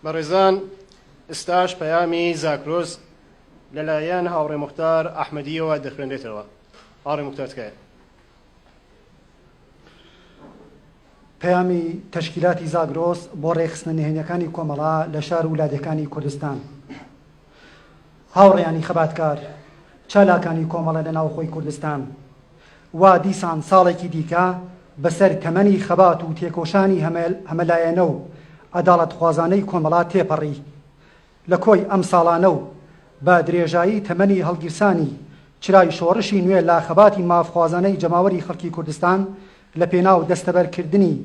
بەڕێزان ئستاش پەیامی زاکرۆز لەلایەن هاوڕێ مختار ئەحمەدیەوە دەخوێنرێتەوە هاڕێ مختارتکایە پەیامی تەشکیلاتی زاگرۆس بۆ ڕێکخستنە نهێنیەکانی کۆمەڵا لە شار و لادێکانی کوردستان. هاوڕێیانی خەباتکار چالاکانی کۆمەڵە لە ناوخۆی کوردستان وا دیسان ساڵێکی دیکە بەسەر تەمەنی خەبات و تێکۆشانی هەمەلایەنە و عەداڵەتخوازانەی کۆمەڵە تێپەڕی لە کۆی ئەم ساڵانە و بە درێژایی تەمەنی هەڵگیرسانی چرای شۆڕشی نوێ لە خەباتی مافخوازانەی جەماوەری خەڵکی کوردستان لە پێناو دەستەبەرکردنی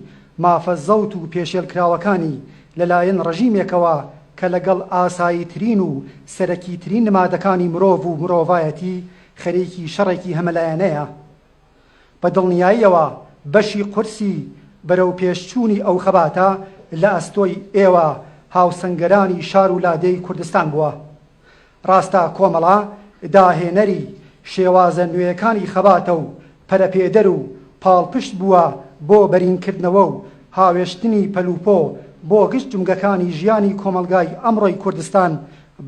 مافە زەوت و پێشێلکراوەکانی لە لایەن ڕژیمێکەوە کە لە گەڵ ئاساییترین و سەرەکیترین نمادەکانی مرۆڤ و مرۆڤایەتی خەریکی شەڕێکی هەمەلایەنەیە. بە دڵنیاییەوە بەشی قورسی بەرەوپێشچوونی ئەو خەباتە لە ئەستۆی ئێوە هاوسەنگەرانی شار و لادێی کوردستان بووە. ڕاستە کۆمەڵە داهێنەری شێوازە نوێیەکانی خەباتە و پەرەپێدەر و پاڵپشت بووە بۆ بەرینکردنەوە و هاوێشتنی پەلوپۆ بۆ گشت جومگەکانی ژیانی کۆمەڵگای ئەمڕۆی کوردستان،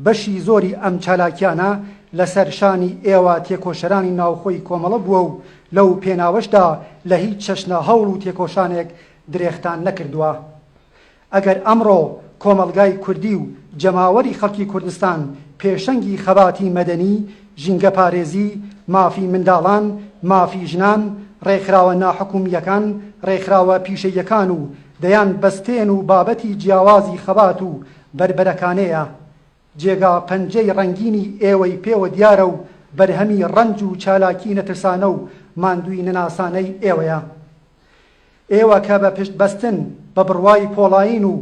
بەشی زۆری ئەم چالاکیانە لەسەر شانی ئێوە تێکۆشەرانی ناوخۆی کۆمەڵە بووە و لەو پێناوەشدا لە هیچ چەشنە هەوڵ و تێکۆشانێک درێختان نەکردووە. ئەگەر ئەمڕۆ کۆمەڵگای کوردی و جەماوەری خەڵکی کوردستان پێشەنگی خەباتی مەدەنی، ژینگەپارێزی، مافی منداڵان، مافی ژنان، ڕێکخراوە ناحکومییەکان، ڕێکخراوە پیشەییەکان و دەیان بەستێن و بابەتی جیاوازی خەبات و بەربەرەکانێیە. جێگا پەنجەی ڕەنگینی ئێوەی پێوە دیارە و بەرهەمی ڕەنج و چالاکی نەترسانە و ماندووی نەناسانەی ئێوەیە. ئێوە کە بە پشت بەستن بە بڕوای پۆڵایین و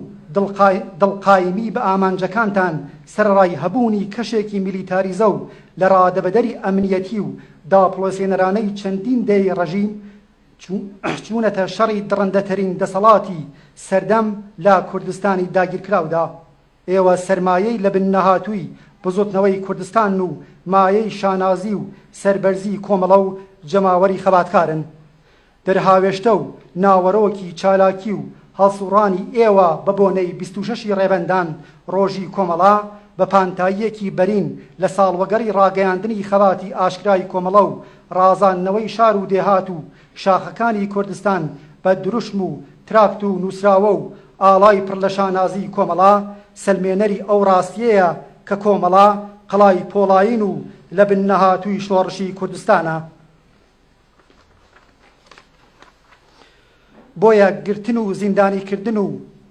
دڵ قایمی بە ئامانجەکانتان سەرەڕای هەبوونی کەشێکی میلیتاریزە و لە ڕادەبەدەری ئەمنیەتی و داپڵۆسێنەرانەی چەندین دەیەی ڕژیم چوونەتە شەڕی دڕندەترین دەسەڵاتی سەردەم لە کوردستانی داگیرکراودا ئێوە سەرمایەی لە بن نەهاتووی بزوتنەوەی کوردستانن و مایەی شانازی و سەربەرزی کۆمەڵە و جەماوەری خەباتکارن دەرهاوێشتە و ناوەرۆکی چالاکی و هەڵسوڕانی ئێوە بە بۆنەی بیست و شەش ی ڕێبەندان ڕۆژی کۆمەڵە بە پانتاییەکی بەرین لە ساڵوەگەڕی ڕاگەیاندنی خەباتی ئاشکرای کۆمەڵە و ڕازاندنەوەی شار و دێهات و شاخەکانی کوردستان بە دروشم و تراکت و نووسراوە و ئاڵای پڕ لە شانازی کۆمەڵە سەلمێنەری ئەو ڕاستیەیە کە کۆمەڵە قەڵای پۆڵایین و لە بن نەهاتووی شۆڕشی کوردستانە. بۆیە گرتن و زیندانی کردن و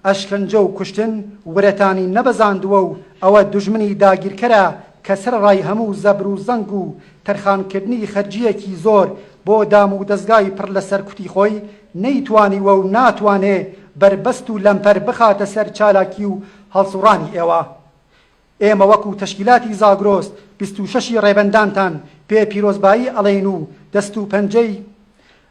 ئەشکەنجە و کوشتن ورەتانی نەبەزاندووە و ئەوە دوژمنی داگیرکەرە کە سەرەڕای هەموو زەبر و زەنگ و تەرخانکردنی خەرجییەکی زۆر بۆ دامودەزگای پڕ لە سەرکوتی خۆی نەیتوانیوە و ناتوانێ بەربەست و لەمپەر بخاتە سەر چالاکی و هەڵسوڕانی ئێوە ئێمە وەکو تەشکیلاتی زاگرۆس بیست و شەش ی ڕێبەندانتان پێ پیرۆزبایی ئەڵێین و دەست و پەنجەی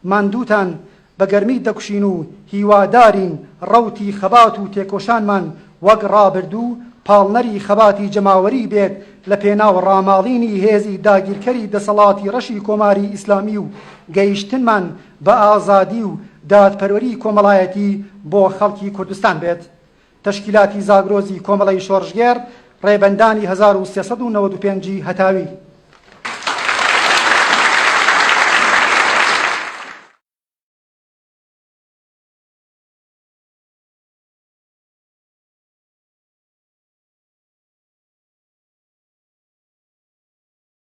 ماندووتان بە گەرمی دەکوشین و هیوادارین ڕەوتی خەبات و تێکۆشانمان وەک ڕابردوو پاڵنەری خەباتی جەماوەری بێت لە پێناو ڕاماڵینی هێزی داگیرکەری دەسەڵاتی ڕەشی کۆماری ئیسلامی و گەیشتنمان بە ئازادی و دادپەروەری کۆمەڵایەتی بۆ خەڵکی کوردستان بێت. تەشکیلاتی زاگرۆزی کۆمەڵەی شۆڕشگێڕ، ڕێبەندانی هەزار و سێ سەد و نەوەد و پێنج ی هەتاوی.